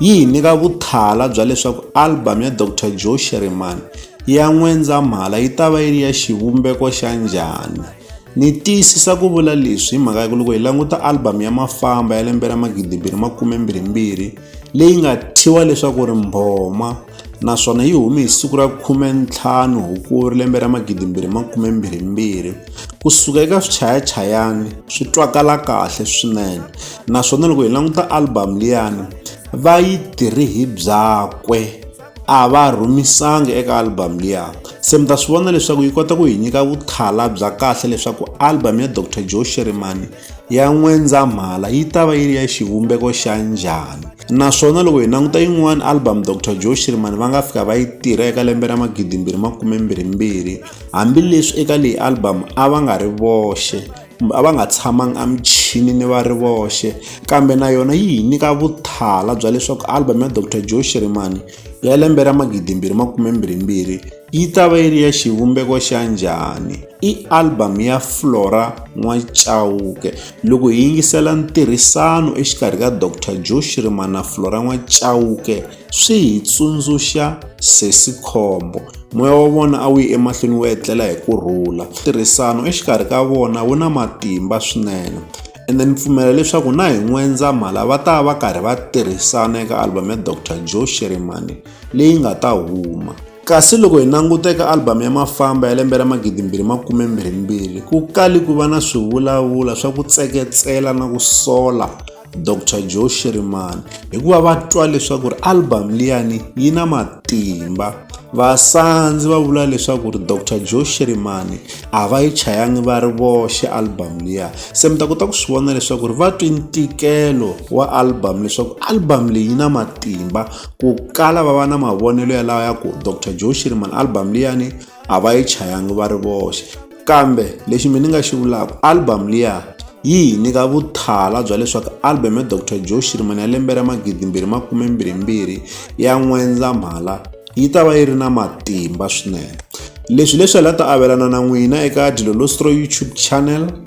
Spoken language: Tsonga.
yi hi nyika vuthala bya leswaku album ya Dr Joe Sherman ya N'wendzamhala yi ta va yi ri ya xivumbeko xa njhani. Ni tiyisisa ku vula leswi hi mhaka ya ku loko hi languta album ya Mafamba ya lembe ra 2022 leyi nga thyiwa leswaku ri Mbhoma, naswona yi hume hi siku ra khume ntlhanu hukuri lembe ra magidimbirhi makume mbirhimbirhi ku suka eka swichayachayani swi twakala kahle swinene naswona loko hi languta album liyani va yi tirhi hi byakwe a va rhumisanga eka album liya se mi ta swi vona leswaku yi kota ku hi nyika vuthala bya kahle leswaku album ya dr joe sherimani ya N'wendzamhala yi ta va yi ri ya xivumbeko xa njhani? Naswona loko hi languta yin'wana album Doctor Joe Shirimani va nga fika va yi tirha eka lembe ra magidi mbirhi makume mbirhi mbirhi hambileswi eka leyi album a va nga ri voxe kumbe a va nga tshamanga emuchinini va ri voxe kambe na yona yi hi nyika vuthala bya leswaku album ya Doctor Joe Shirimani ya lembe ra magidi mbirhi makume mbirhi mbirhi Yi ta va yi ri ya xivumbeko xa njhani? I album ya Flora N'wachauke. Loko hi yingisela ntirhisano exikarhi ka Doctor Joe Shirima na Flora N'wachauke swi hi tsundzuxa Sesi Khombo. Moya wa vona a wu yi emahlweni wu etlela hi ku rhula. Ntirhisano exikarhi ka vona wu na matimba swinene ene ni pfumela leswaku na hi N'wendzamhala va ta va karhi va tirhisana eka album ya Doctor Joe Shirimani. leyi nga ta huma. Kasi loko hi languta eka album ya Mafamba ya lembe ra 2022, ku kali ku va na swivulavula swa ku tseketsela na ku sola Doctor Joe Shirimani hikuva va twa leswaku ri album liyani yi na matimba. Vasandzi va vula leswaku ri Doctor Joe Shirimani a va yi chayangi va ri voxe album liya. Se mi ta kota ku swi vona leswaku ri va twi ntikelo wa album leswaku album leyi yi na matimba. ku kala va va na mavonelo ya lawa ya ku Doctor Joe Shirimani album liyani a va yi chayangi va ri voxe kambe lexi mina ni nga xi vulaka album liya yi hi nyika vuthala bya leswaku album ya Doctor Joe Shirimani ya lembe ra magidi mbirhi makume mbirhi mbirhi ya N'wendzamhala yi ta va yi ri na matimba swinene leswi leswi hi la ta avelana na n'wina eka Dilolostro YouTube channel